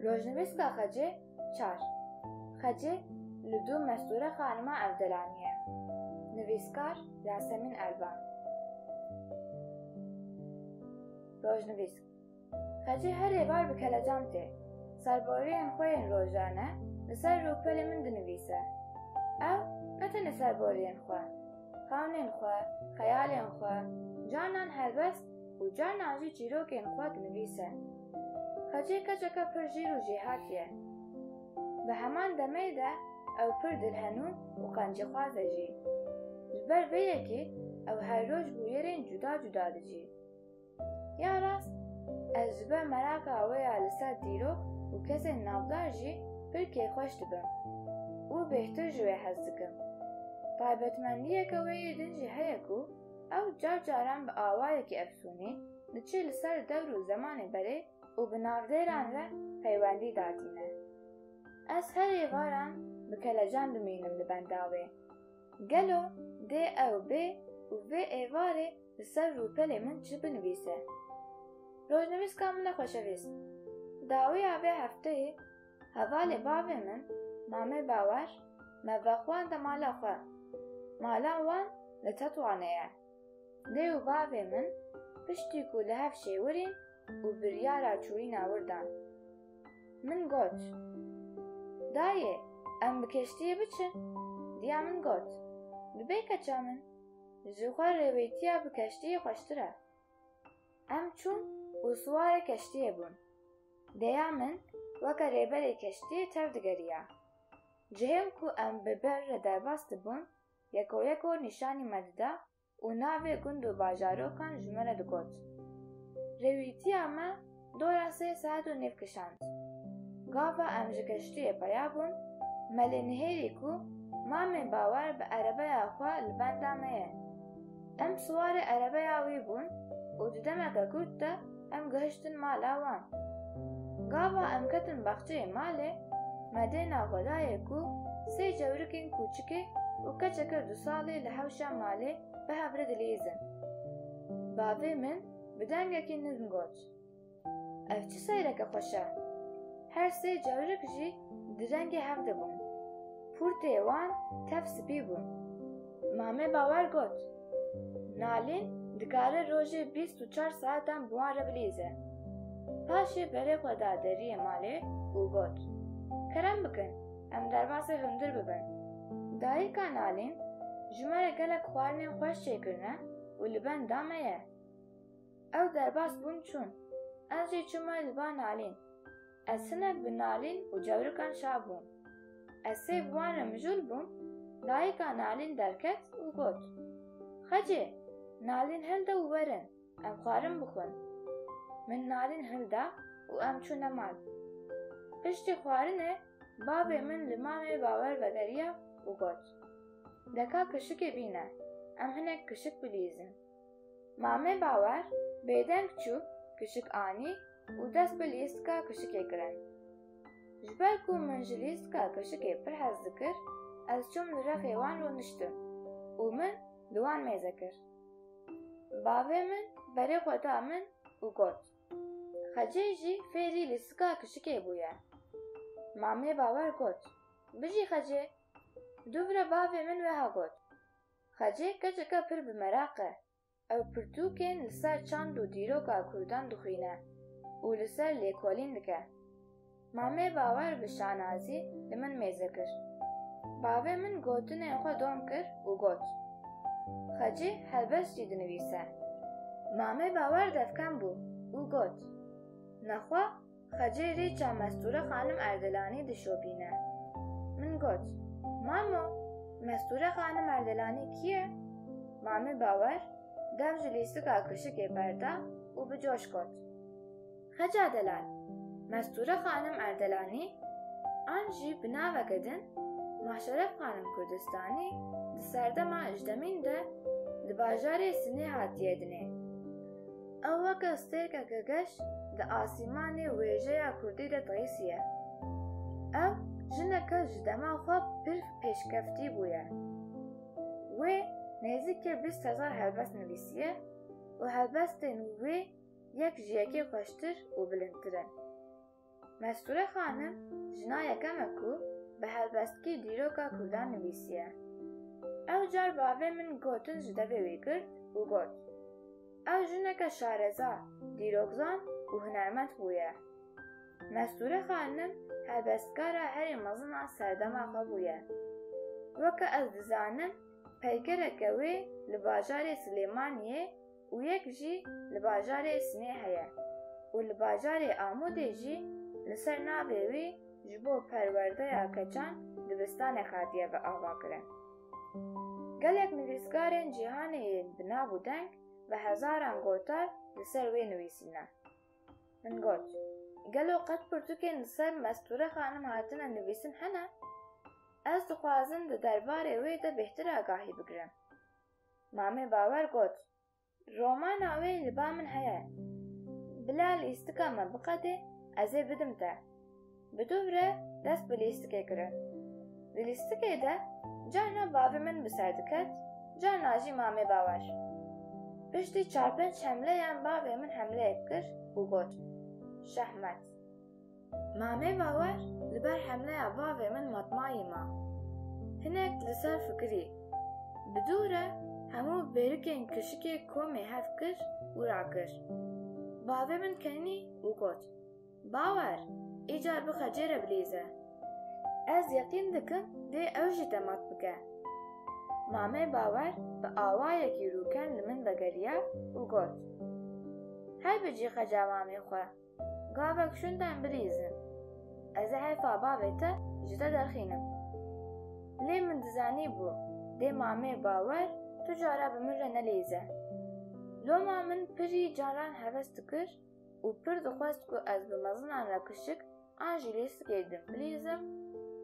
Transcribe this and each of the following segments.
Rojnivîska xecê çar. Xecê li dû mestûre xanima Evdelanî ye. Nivîskar Yasemîn Elvan. Rojnivîsk Xecê her êvar bi kelecan tê. Serboriyên xwe yên rojane li ser rûpelê min dinivîse. Ew ne tenê serboriyên xwe, xewnên xwe, xeyalên xwe, canan helbest û carnan jî çîrokên xwe dinivîse. Xecê keçeke pir jêr û jêhat ye. Bi heman demê de ew pir dilhenûn û qencîxwaz e jî. Ji ber vê yekê ew her roj bûyerên cuda cuda dicî. Ya rast, ez ji ber meraka wê ya li ser dîrok û kesên navdar jî pir kêfxweş dibim û bêhtir ji wê hez dikim. Taybetmendiyeke wê yê din jî heye ku, Ew car caran bi awayekî efsûnî diçe li ser dewr û zemanê berê û bi navdêran re peywendî datîne. Ez her êvaran bi kelecan dimînim li benda wê. Gelo dê ew bê û vê êvarê li ser rûpelê min çi binivîse? Rojnivîska min e xweşevîst. Dawiya vê hefteyê. Hevalê bavê min, Mame Bawer, me vexwanda mala xwe. Mala wan li Tetwanê ye. Lê û bavê min piştî ku li hev şêwirîn û biryara çûyîna wir dan. Min got, Dayê, em bi keştiyê biçin? Diya min got, Dibê keça min. Ji xwe rêwêtiya bi keştiyê xweştir e. Em çûn û siwarê keştiyê bûn. Dêya min weke rêberê keştiyê tev digeriya. Cihên ku em bi bir re derbas dibûn yekoyeko nîşanî me dida û navê gund û bajarokan ji me re digot. Rêwîtiya me Doya sê saet û nîv kişand. Gava em ji keştiyê peya bûn, me lê nihêlî ku Mamê Bawer bi erebeya xwe li benda me ye. Em siwarê erebeya wî bûn û di demeke kurt de em gihiştin mala wan. Gava em ketin baxçeyê malê, me dêna xwe dayê ku sê cewrikên kûçikê û keçeke dusalê li hewşa malê bi hev re dilîzin. Bavê min, bi dengekî nirm got, Ev çi seyreke xweş e! Her sê cewrik jî di rengê hev de bûn. Pûrtê wan tev spî bû. Mame Bawer got, Nalîn dikare rojê bîst û çar saetan bi wan re bilîze. Paşê berê xwe da deriyê malê û got, Kerem bikin, em derbasê hundir bibin. Dayika Nalîn, Ji me re gelek xwarinên xweş çêkirine û li benda me ye. Ew derbas bûn çûn. Em jî çûme li ba nalîn. Ez hinek bi nalîn û cewrikan şa bûm. Ez sêv wan re mijûl bûm, dayika nalîn derket û got, Xecê, nalîn hilde û werin, em xwarin bixwin. Min nalîn hilda û em çûne mal. Piştî xwarinê bavê min li mamê bawer vegeriya û got, Deka kişikê bîne, em hinek kişik bilîzin. Mame Bawer bêdeng çû kişik anî û dest bi lîstika kişikê kirin. Ji ber ku min ji lîstika kişikê pir hez dikir, ez çûm li rexê wan rûniştim û min li wan mêze kir. Bavê min berê xwe da min û got, Xecê jî fêrî lîstika kişikê bûye. Mame Bawer got, Bijî Xecê! Dûvre bavê min wiha got, Xecê keçeke pir bi meraq e. Ew pirtûkên li ser çand û dîroka Kurdan dixwîne û li ser lêkolîn dike. Mamê Bawer bi şanazî li min mêze kir. Bavê min gotinên xwe dom kir û got, Xecê helbest jî dinivîse. Mamê Bawer devkem bû û got, Nexwe Xecê rêça Mesture Xanim Erdelanî dişopîne. Min got, Mamo, Mesture Xanim Erdelanî kî ye? Mamê Bawer dev ji lîstika kuşikê berda û bi coş got, Xeca delal, Mesture Xanim Erdelanî an jî bi naveke din Maşeref Xanim Kurdistanî di serdema ejdemîn de li bajarê Sinê hatiye dinê. Ew weke stêrkeke geş di asîmanê wêjeya kurdî de tirîsiye. Ew jineke ji dema xwe pir pêşkeftî bûye. Wê nêzîkê bîst hezar helbest nivîsiye û helbestên wê yek ji yekê xweştir û bilindtir in. Mesture Xanim jina yekem e ku bi helbestkî dîroka kurdan nivîsiye. Ew car bavê min gotin ji devê wî kir û got, Ew jineke şareza, dîrokzan û hunermend bûye. Mesture Xanim helbestkara herî mezin a serdema xwe bûye. Weke ez dizanim peykereke wê li bajarê Silêmaniyê û yek jî li bajarê Sinê heye û li bajarê Amûdê jî li ser navê wî ji bo perwerdeya keçan dibistanek hatiye biavakirin. Gelek nivîskarên cîhanê yên bi nav û deng bi hezaran gotar li ser wê nivîsîne. Min got, Gelo qet pirtûkên li ser Mestûre Xanim hatine nivîsin hene? Ez dixwazim di derbarê wê de bêhtir agahî bigirim. Mame Bawer got, Romana wê li ba min heye. Bila lîstika me biqede ez ê bidim te. Bi dûv re dest bi lîstikê kirin. Di lîstikê de carna bavê min bi ser diket, carna jî Mame Bawer. Piştî çar pênc hemleyan bavê min hemleyek kir û got, Şahmet! Mame Bawer li ber hemleya bavê min matmayî ma. Hinek li ser fikirî. Bi dû re hemû bêrikên kişikê komê hev kir û rakir. Bavê min kenî û got, Bawer, îcar bixe cêre bilîze. Ez yeqîn dikim dê ew jî te mat bike. Mame Bawer bi awayekî rûken li min vegeriya û got, Heybi cî xeca mamê xwe. Gavek şunda em birîzin. Ez ê heyfa bavê te ji te derxînim. Lê min dizanîbû dê mamê bawer tu cara bi min re nelîze. Loma min pirî caran heves dikir û pir dixwest ku ez bi mezinan re kişik an jî lêsikê din bilîzim,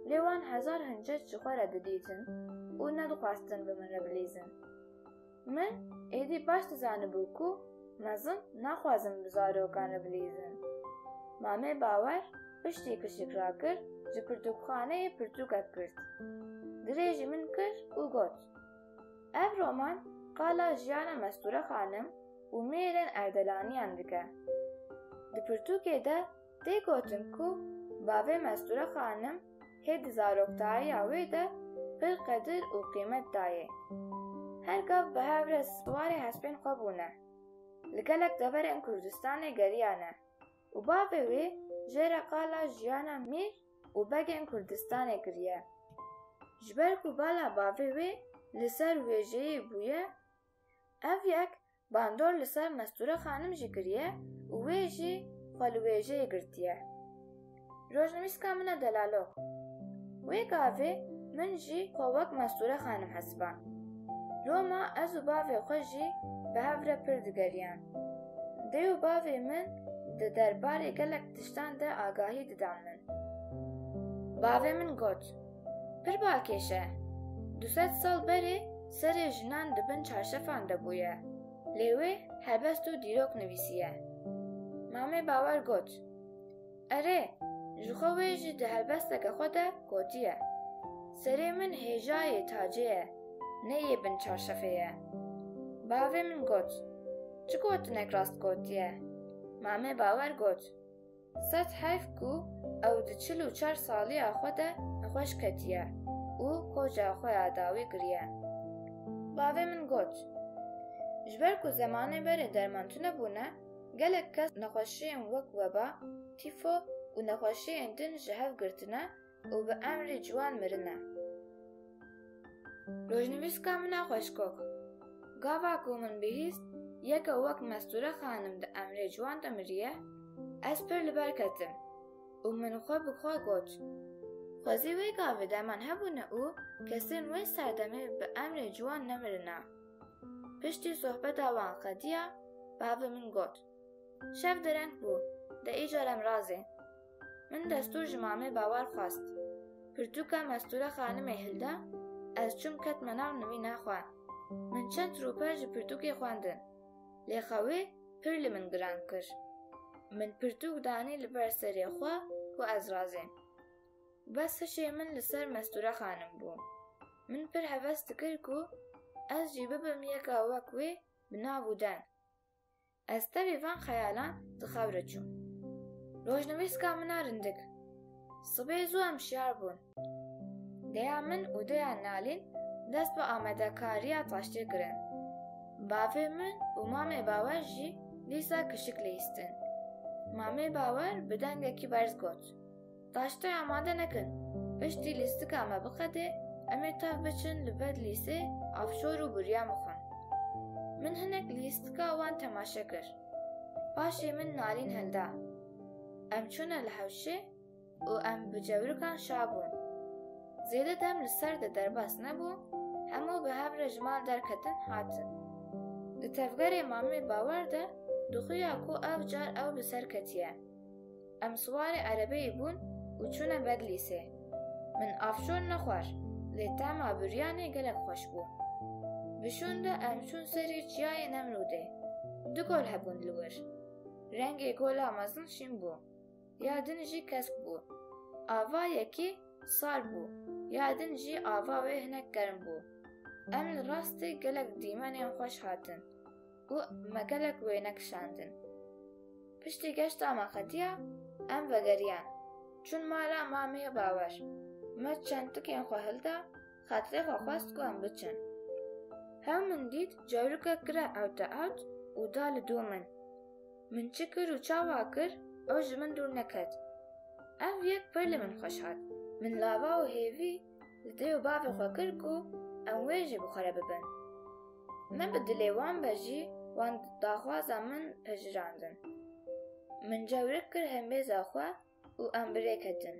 lê wan hezar hincet ji xwe re didîtin û nedixwestin bi min re bilîzin. Min êdî baş dizanibû ku mezin naxwazin bi zarokan re bilîzin. Mamê Bawer piştî pişik rakir ji pirtûkxaneyê pirtûkek girt. Dirê ji min kir û got, Ev roman qala jiyana Mestûre Xanim û Mêrên Erdelaniyan dike. Di pirtûkê de Tê gotin ku bavê Mesture Xanim hê di zaroktayiya wê de pir qedir û qîmet dayê. Her gav bi hev re swarê hespên xwe bûne. Li gelek deverên Kurdistanê geriyane û bavê wê jê re qala jiyana mîr û begên Kurdistanê kiriye. Ji ber ku bala bavê wê li ser wêjeyê bûye, ev yek Bandor li ser Mesture Xanim jî kiriye û wê jî xwe li wêjeyê girtiye. Rojnivîska min e Delalog. Wê gavê min jî xwe wek Mesture Xanim hesiband. Loma ez û bavê xwe jî bi hev re pir digeriyan. Dê û bavê min di derbarê gelek tiştan de agahî didan min. Bavê min got. Pir bakêş e. Du sed sal berê serê jinan di bin çarşefan de bûye. Lê wê helbest û dîrok nivîsiye. Mamê Bawer got, Erê, ji xwe wê jî di helbesteke xwe de gotiye, Serê min hêjayê tacê ye, ne yê bin çarşefê ye. Bavê min got, Çi gotinek rast gotiye? Mamê Bawer got, Sed heyf ku ew di çil û çar saliya xwe de bi xweş ketiye û koca xwe ya dawî kiriye. Bavê min got, Ji ber ku zemanê berê derman tune bûne, gelek kes nexweşiyên wek weba, tîfo û nexweşiyên din ji hev girtine Û bi emrê ciwan mirine. Rojnivîska min a xweşkox. Gava ku min bihîst yeke wek Mestûre Xanim di emrê ciwan de miriye, ez pir li ber ketim û min xwe bi xwe got, Xwezî wê gavê derman hebûne û kesên wê serdemê bi emrê ciwan nemirine. Piştî sohbeta wan qediya, bavê min got, Şev dereng bû, de îcar em razê. Min destûr ji mamê Bawar xwest. Pirtûka mestûra xanimê hilda, ez çûm ketme nav nivîna xwe. Min çend rûpel ji pirtûkê xwendin. Lê xewê pir li min giran kir. Min pirtûk danî li ber serê xwe ku ez razîm. Bes hişê min li ser mestûra xanim bû. Min pir heves dikir ku ez jî bibim yeka wek wê bi nav û deng. Ez tevî van xeyalan di xew re çûm. Rojnivîska min a rindik. Sibê zû em şiyar bûn. Deya min û deya Nalîn dest bi amadekariya taştê kirin. Bavê min û mamê Bawer jî dîsa kişik lihîstin. Mamê Bawer bi dengekî berz got. Taştê amade nekin. Piştî lîstika me biqedê, em ê tev biçin li ber lîsê avşor û bûrya min xwend. Min hinek lîstika wan temaşe kir. Paşê min nalîn helda. Em çûne li hewşê û em bi cewrikan şa bûn. Zêde dem li ser de derbas nebû, hemû bi hev re ji mal derketin hatin. Di tevgerê Mamê Bawer de dixuya ku ev car ew li ser ketiye. Em siwarê erebeyê bûn û çûne Bedlîsê. Min afşon nexwar, lê tema biryanê gelek xweş bû. Bi şûn de em çûn serê çiyayê Nemrûdê. Du gol hebûn li wir. Rengê gola mezin şîn bû, ya din jî kesk bû. Ava yekê sar bû, ya din jî ava wê hinek germ bû. Em li rastê gelek dîmenên xweş hatin. û me gelek wêne kişandin. Piştî geşta me xetiya em vegeriyan çûn mala mamê Bawer. Me çend tikên xwe hilda, xatirê xwe xwest ku em biçin. Hew min dît cewrikek kire ewte ewt û da li dû min. Min çi kir û çawa kir ew ji min dûr neket. Ev yek pir li min xweş hat. Min lava û hêvî Li dayê û bavê xwe kir ku em wê jî bi xwe re bibin. Min bi dilê wan be jî wan daxwaza min pejirandin. Min cewrik kir hembêza xwe û em bi rê ketin.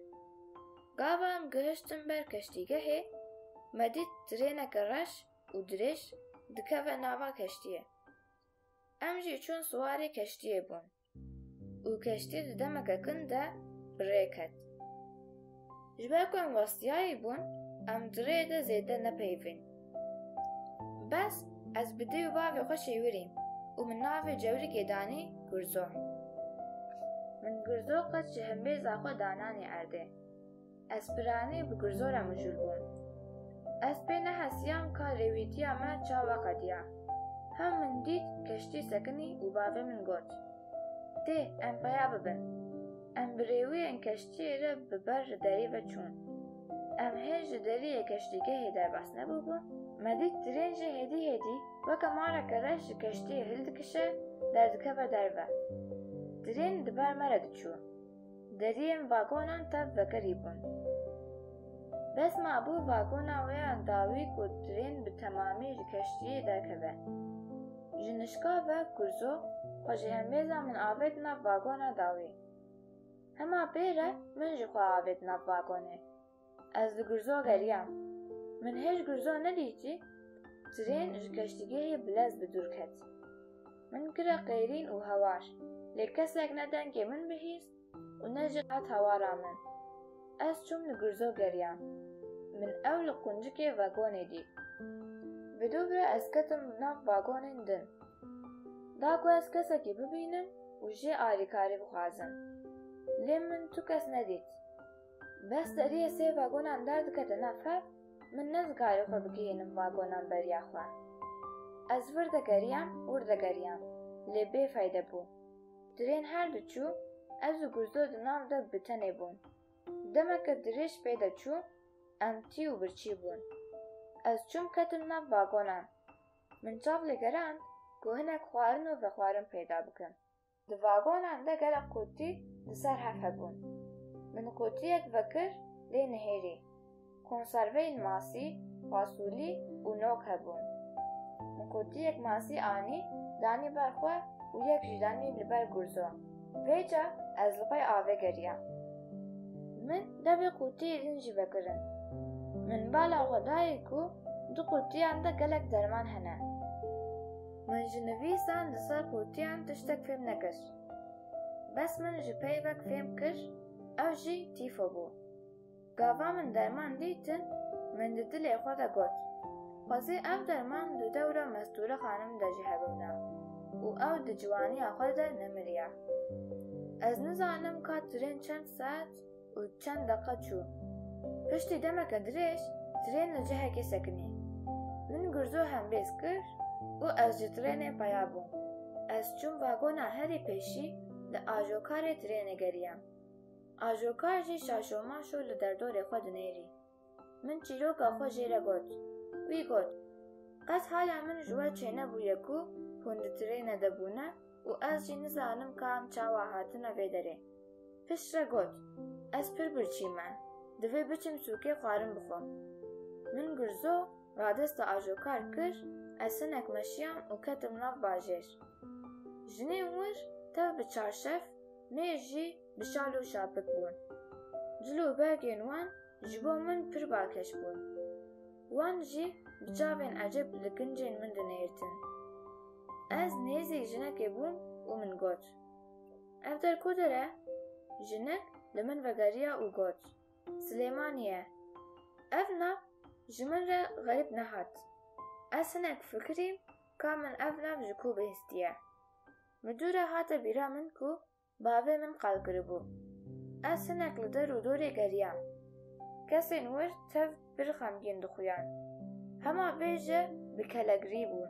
Gava em gihiştin ber keştîgehê, me dît tirêneke reş û dirêj dikeve nava keştiyê. Em jî çûn siwarê keştiyê bûn. û keştî di demeke kin de bi rê ket. Ji ber ku em westiyayî bûn, em di rê de zêde nepeyivîn. Bes ez bi dê û bavê xwe şêwirîm û min navê Cewrikê danî Gurzo. Min Gurzo qet ji himbêza xwe dananî erdê. Ez piranî bi gurzora mijûl bûm. Ez pê nehesiyam ka rêwîtiya me çawa qediya. Hew min dît keştî sekinî û bavê min got, Tê, em peya bibin. Em bi rêwiyên keştiyê re bi ber li derî ve çûn. Em hêj li deriyê keştîgehê derbas nebûbûn, me dît tirên jî hêdî hêdî weke mareke reş ji keştiyê hildikişe derdikeve derve. Tirên di ber me re diçû. Deriyên vagonan tev vekirî bûn. Bes mabû vagona wê ya dawî ku trên bi temamî ji keştiyê derkeve. Ji nişkava Gurzo xwe ji hembêza min avêt nav vagona dawî. Hema pê re min jixwe avêt nav vagonê. Ez li Gurzo geriyam. Min hê ji Gurzo nedîtî trên ji keştîgehê bilez bi dûr ket. Min kire qêrîn û hewar, lê kesek ne dengê min bihîst û ne jî qet hawara min. Ez çûm li Gurzo geriyam. Min ew li quncikê vegonê dît. Bi dû ve ez ketim nav vagonên din. Da ku ez kesekî bibînim û jê alîkarî bixwazim. Lê min tu kes nedît. Bes seriyê sê vagonan derdikete nav fev, min nezikayî xwe bigihînim vagonan beriya xwe. Ez vir de geriyam, wir de geriyam, lê bê feyde bû. Tirên her du çû, ez û Gurzo di nav de bi tenê bûn. Demeke dirêj pê de çû, em tî û birçî bûn. Ez çûm ketim nav vagonan. Min çav lê gerand ku hinek xwarin û vexwarin peyda bikim. Di vagonan de gelek qûtî li ser hev hebûn. Min qûtiyek vekir lê nihêrî. Konserveyên masî, fasulî û nok hebûn. Min qûtiyek masî anî, danî ber xwe û yek jî danî li ber gurzo. Vê ca ez li qey avê geriya. Min dewê qûtiyê din jî vekirin. Min bala xwe dayê ku di qûtiyan de gelek derman hene. Min ji nivîsan di ser qûtiyan tiştek fêm nekir. Bes min ji peyvek fêm kir, ew jî tîfo bû. Gava min derman dîtin, min di dilê xwe de got, Xwezê ev derman di dewra Mestûre xanim de jî hebûna û ew di ciwaniya xwe de nemiriya. Ez nizanim ka tirên çend saet û çend deqa çû. Piştî demeke dirêj trên li cihekê sekinî. Min gurzo hembêz kir û ez ji trênê peya bûm. Ez çûm vagona herî pêşî li ajokarê trênê geriyam. Ajokar jî şaşomaşo li derdorê xwe dinêrî. Min çîroka xwe jê re got. Wî got, Qet haya min ji we çênebûye ku hûn di tirêne de bûne û ez jî nizanim ka em çawa hatine vê derê. Pişt re got, Ez pir birçî me, divê biçim sûkê xwarin bixwim. Min gurzo radesta ajokar kir, ez hinek meşiyam û ketim nav bajêr. Jinê wir tev bi çarşef, mêr jî bi şal û şapik bûn. Cil û bergên wan ji bo min pir balkêş bûn. Wan jî bi çavên ecêb li kincên min dinihêrtin. Ez nêzî jinekê bûm û min got, Ev der ku der e? Jinek li min vegeriya û got, Silêmanî ye. Ev nav ji min re xerîb nehat. Ez hinek fikirîm ka min ev nav ji ku bihîstiye. Midûre hate bîra min ku Bavê min qal kiribû. Ez hinek li der û dorê geriyam. Kesên wir tev pir xemgîn dixuyan. Hema vê jî bi kelegirî bûn.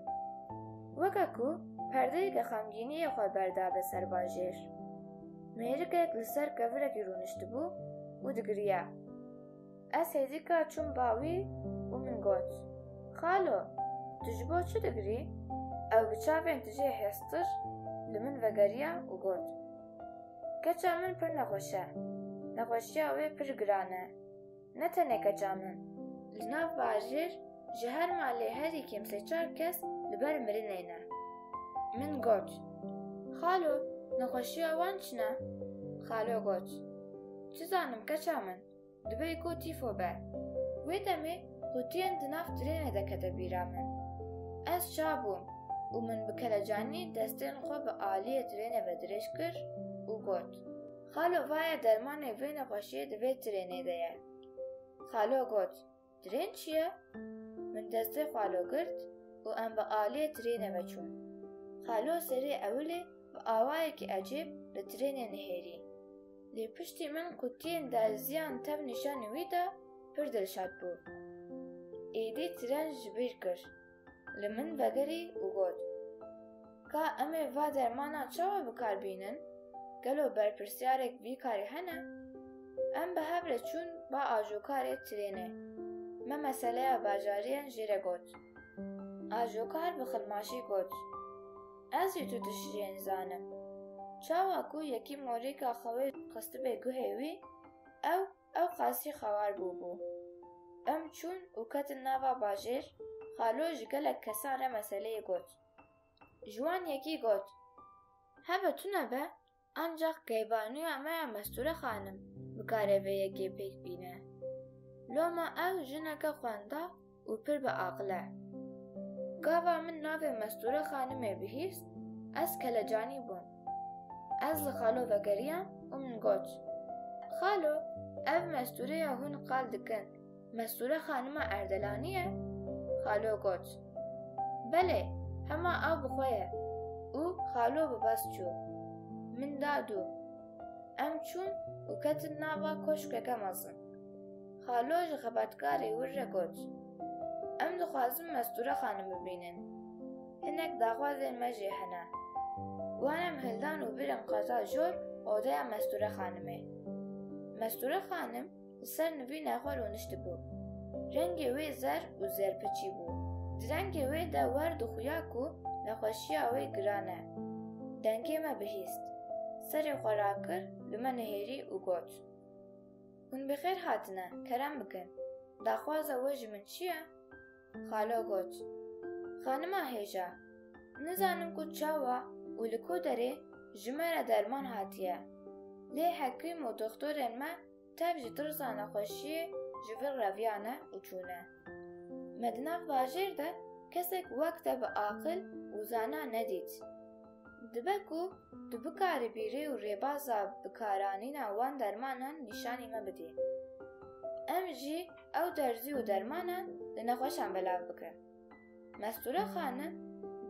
Weke ku perdeyeke xemgîniyê xwe berdabe ser bajêr. Mêrikek li ser kevirekî rûniştibû û digiriya. Ez hêdîka çûm ba wî û min got, Xalo, tu ji bo çi digirî? Ew bi çavên tijê hêztir li min vegeriya û got, Keça min pir nexweş e, nexweşiya wê pir giran e, ne tenê keça min. Li nav bajêr ji her malê herî kêm sê çar kes li ber mirinê ne. Min got, Xalo, nexweşiya wan çi ne? Xalo got, Çi zanim keça min. Dibê ku tîfo be. Wê demê qutiyên di nav trênê de kete bîra min. Ez ça bûm û min bi kelecanî destên xwe bi aliyê trênê ve dirêj kir û got, Xalo vaye dermanê vê nexweşiyê di vê trênê de ye. Xalo got, Trên çi ye? Min destê xwe lo girt û em bi aliyê trênê ve çûn. Xalo serê ewilê bi awayekî ecêb li trênê nihêrî. Lê piştî min qutiyên derziyan tev nîşanî wî da, pir dilşad bû. Êdî tren ji bîr kir. Li min vegerî û got, Ka em ê va dermanan çawa bi kar bînin? Gelo berpirsyarek vî karî hene? Em bi hev re çûn ba ajokarê trênê. Me meseleya bajariyan jê re got. Ajokar bi xilmaşî got, Ez jî tu tişriyê nizanim. Çawa ku yekî morîka xwe xistibê guhê wî, ew Ew qasî xewar bûbû. Em çûn û ketin nava bajêr, xalo ji gelek kesan re meseleyê got. Ji wan yekî got. Hebe tune be, ancax keyvanuya me ya Mesture xanim bikare vê yekê pêk bîne. Loma ew jineke xwenda, û pir bi aqil e. Gava min navê Mestûre Xanimê bihîst, ez kelecanî bûm. Ez li xalo vegeriyam û min got, Xalo, ev Mestûre ya hûn qal dikin Mestûre Xanima Erdelanî ye? Xalo got, Belê, hema ew bi xwe ye. Û xalo bi bes çû. Min da dû. Em çûn û ketin nava koşkeke mezin. Xalo ji xebatkarê wir re got, Em dixwazin Mestûre xanim bibînin. Hinek daxwazên me jê hene. Wan em hildan û birin qata jor odeya Mestûre xanimê. Mestûre xanim li ser nivîna xwe rûniştibû. Rengê wê zer û zerpiçî bû. Di rengê wê de wer dixuya ku nexweşiya wê giran e. Dengê me bihîst. Serê xwe rakir li me nihêrî û got. Hûn bi xêr hatine, kerem bikin. Daxwaza we ji min çi ye? Xalo got, Xanima hêja, nizanim ku çawa û li ku derê ji me re derman hatiye. Lê hekîm û doxtorên me tev ji tirsa nexweşiyê ji vir reviyane û çûne. Me di nav bajêr de kesek wek te bi aqil û zana nedît. Dibe ku tu bikarî bîrî û rêbaza bikaranîna wan dermanan nîşanî me bidî. Em jî ew derzî û dermanan li nexweşan belav bikin. Mestûre xanim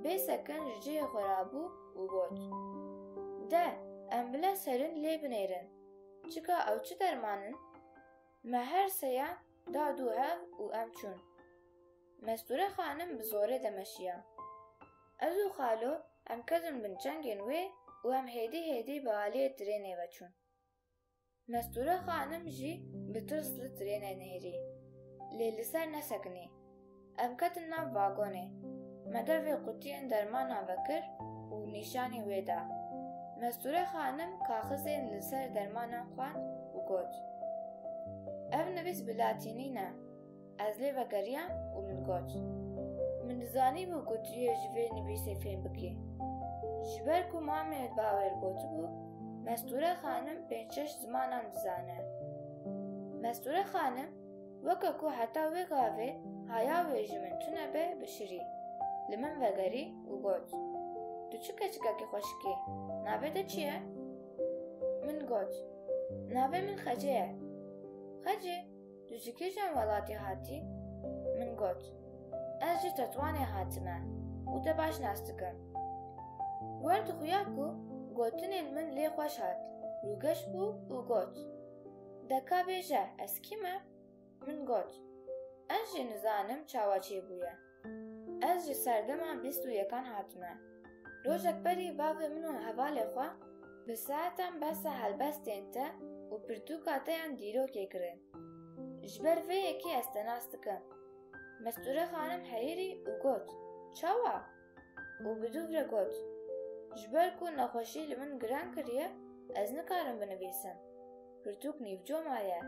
bê sekin ji cihê xwe re bû û got, De em bila serin lê binêrin, çika ew çi derman in? Me her seyan da du hev û em çûn. Mestûre xanim bi zorê demeşiya. Ez û xalo em ketin bin çengên wê û em hêdî hêdî bi aliyê trênê ve çûn. Mestûre xanim jî bi tirs li trênê nihêrî. Lê li ser nesekinî. Em ketin nav vagonê. Me devê qutiyên dermanan vekir û nîşanî wê da. Mestûre xanim kaxizên li ser dermanan xwend û got, Ev nivîs bi latînî ne. Ez lê vegeriyam û min got, Min dizanîbû ku tu yê ji vê nivîsê fêm bikî. Ji ber ku mamê bawêr gotibû, Mestûre xanim pênc şeş zimanan dizane. Mestûre xanim weke ku heta wê gavê haya wê ji min tune be bişirî, li min vegerî û got, Tu çi keçikekî xweşik î, navê te çi ye? Min got, Navê min Xece ye. Xece! Tu ji kîjan welatî hatî? Min got, Ez ji Tetwanê hatime û te baş nas dikim. Wer dixuya ku gotinê li min lê xweş hat, rûgeş bû û got, Deka bêje ez kî me? Min got, Ez jî nizanim çawa çêbûye. Ez ji serdema bîst û yekan hatime. Rojek berî bavê min û hevalê xwe bi saetan behsa helbestên te û pirtûka te yan dîrokê kirin. Ji ber vê yekê ez te nas dikim. Mesture xanim heyirî û got, Çawa? Û bi dûv re got, Ji ber ku nexweşî li min giran kiriye, ez nikarim binivîsim. Pirtûk nîvco ma ye.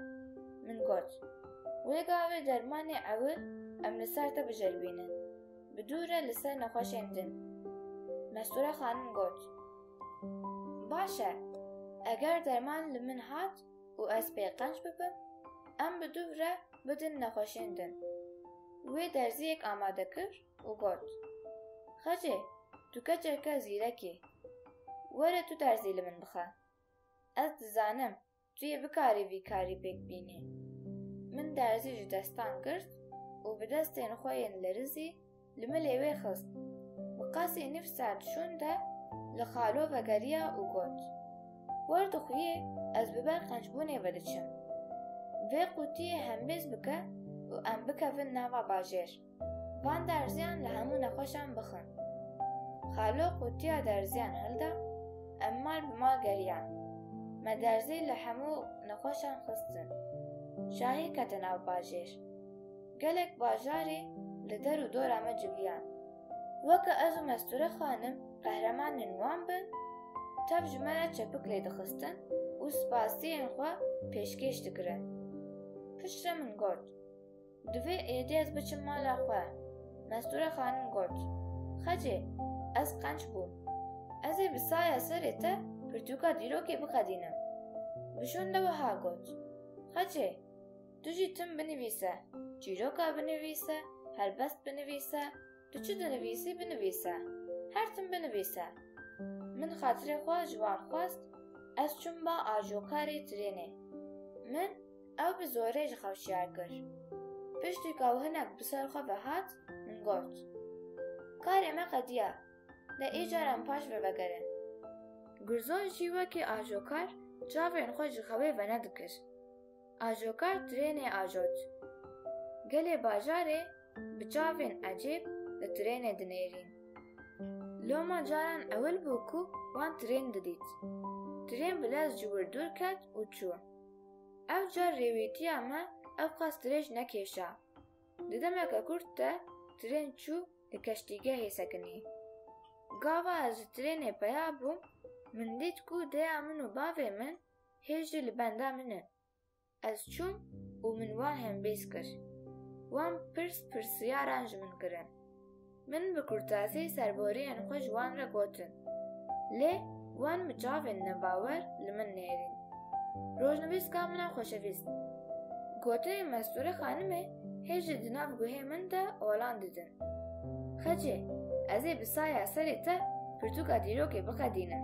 Min got, Wê gavê dermanê ewil em li ser te biceribînin. Bi dû re li ser nexweşên din. Mesture xanim got, Baş e, eger derman li min hat û ez pê qenc bibim, em bi dû re bidin nexweşên din. Wê derziyek amade kir û got, Xecê, tu keçeke zîrek î. Were tu derzî li min bixe. Ez dizanim tu yê bikarî vî karî pêk bînî. Min derzî ji destan girt û bi destên xwe yên lerizî li milê wê xist. Bi qasî nîv saet şûn de li xalo vegeriya û got, Wer dixwîyê ez bi ber qencbûnê ve diçim. Vê qûtiyê hembêz bike û em bikevin nava bajêr. Van derziyan li hemû nexweşan bixwin. Xalo qutiya derziyan hilda, em mal bi mal geriyan. Me derzî li hemû nexweşan xistin. Şahî kete nav bajêr. Gelek bajarî li der û dora me civiyan. Weke ez û Mesture Xanim qehremanên wan bin, tev ji me re çepik lê dixistin û spasiyên xwe pêşkêş dikirin. Piştre min got. Divê êdî ez biçim mala xwe. Mestûre xanim got, Xecê, ez qenc bûm. Ez ê bi saya serê te pirtûka dîrokê bixedînim. Vişon de wiha got, Xecê, tu jî tim binivîse, çîroka binivîse, helbest binivîse, Tu çi dinivîsî binivîse. Her tim binivîse. Min xatirê xwe ji wan xwest, ez çûm ba ajokarê trênê. Min ew bi zorê ji xew şiyar kir. Piştî ka hinek bi ser xwe ve hat, min got, Karê me qediya, de îcar em paş ve vegerin. Gurzon jî wekî ajokar çavên xwe ji xewê venedikir. Ajokar trênê ajot. Gelê bajarê bi çavên ecêb li trênê dinêrîn. Loma caran ewil bû ku wan trên didît. Trên bi lez ji wir dûr ket û çû. Ev car rêwîtiya me ewqas dirêj nekêşa. Di demeke kurt de trên çû li keştîgehê sekinî. Gava ez ji trênê peya bûm, min dît ku dêya min û bavê min hêj jî li benda min e. Ez çûm û min wan hembêz kir. Wan pirs pirsîyaran ji min kirin. Min bi kurtazî serboriyên xwe ji wan re gotin. Lê wan bi çavên nebawer li min nêrîn. Rojnivîska min a xweşevîst. Gotinên Mestûre Xanimê hêj jî di nav guhê min de olan didin. Xecê, ez ê bi saya serê te pirtûka dîrokê bixedînim.